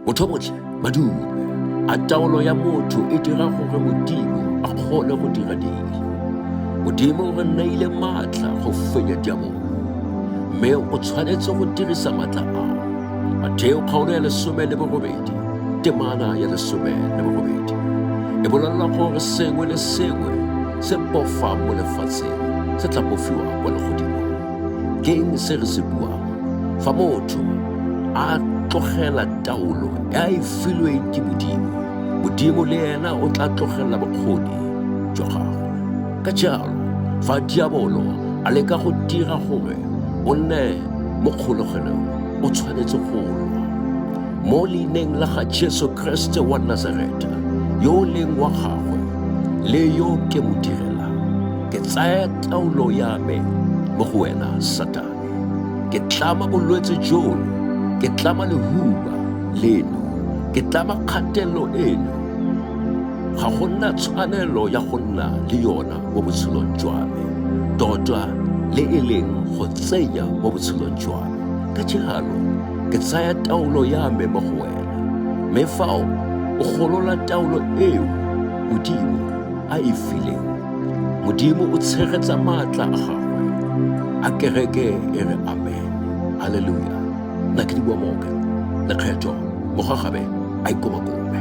Botho botlhe ba dume. A taolo ya motho e dira gore Modimo a kgone go dira ding. Modimo o re neile maatla go fenya diabolo, mme o tshwanetse go dirisa maatla a. Matheo kgaolo ya lesome le borobedi, temana ya lesome le borobedi. E bolelela gore sengwe le sengwe se pofang mo lefatsheng se tla pofiwa kwa legodimo. Ke eng se re se buang? Fa motho a tlogela taolo e a e filweng ke Modimo, Modimo le ena o tla tlogelela bokgoni jwa gagwe. Ka jalo, fa diabolo a leka go dira gore o nne mo kgologelong, o tshwanetse go lwa. Mo leineng la ga Jesu Kriste wa Nazareta, yo o leng wa gagwe le yo ke mo direlang, ke tsaya taolo ya me mo go wena satane ke tlama bolwetse jono ke tlama lehuba leno ke tlama kgatelelo eno ga go nna tshwanelo ya go nna le yona mo botshelong jwa me tota le e leng go tsenya mo botshelong jwa me ka jalo ke tsaya taolo ya me mo go wena mme fao o golola taolo eo modimo a e fileng modimo o tshegetsa maatla a gagwe a kereke e re amen halleluja nna ke di bua moke lekgetho mogagabe a ikomakobe